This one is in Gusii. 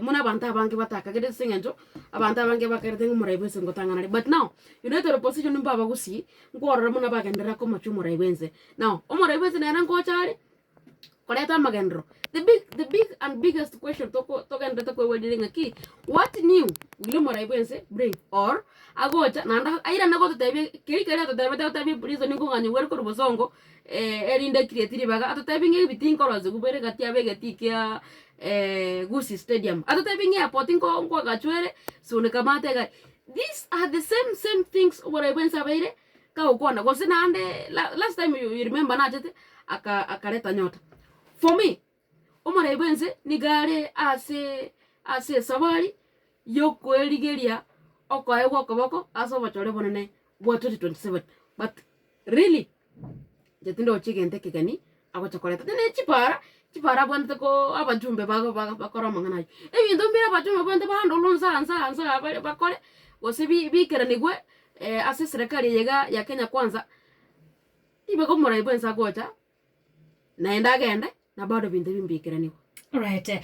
buna abanto abange batakagereti ase eng'encho, abanto abange bakerete ng'a omorai bwense ngotang'ana are but now, you know tore positioned mpo abagusii, nkworora buna bagenderera komochia omorai bwense. Now, omorai bwense nere nkocha are, koreta amagenderero, the big the big and biggest question toko togenderete koigweraria ng'aki, what new will omorai bwense bring or agocha naende airane gototebia keri keria atotebete otebie prison nkong'aini bwere korwa bosongo erinde a create ribaga, atotebie ng'a ebitinga orosewu bwere gati abegeti kiaa. Gusii Stadium, atotebie ng'a airport nko nkwagachwere sonde kamata egari, these are the same same things oborai bwense abeire kagokwana gose naende la last time you you remember nachete aka akareta nyota. For me, omorai bwense niga are asee ase esabari yokoerigeria okoegwa okoboko ase obochore obonene bwa twenty twenty seven but really. Tindi roche egento ekegeni agocha koreta tindi ne chipara, chipara abwantete koo abachumbe bago baga bakore amang'ana aywo. Ebinto mbire abachumbe babwantete bandorwa onsi aa nse aa nse aa bare bakore, gose bi- bikeranigwe ase eserekari eye iga ya kenya kwanza, tiboka omorai bwensa agocha, naende agende, na bado ebinto ebi mbikeraniwe. Alright.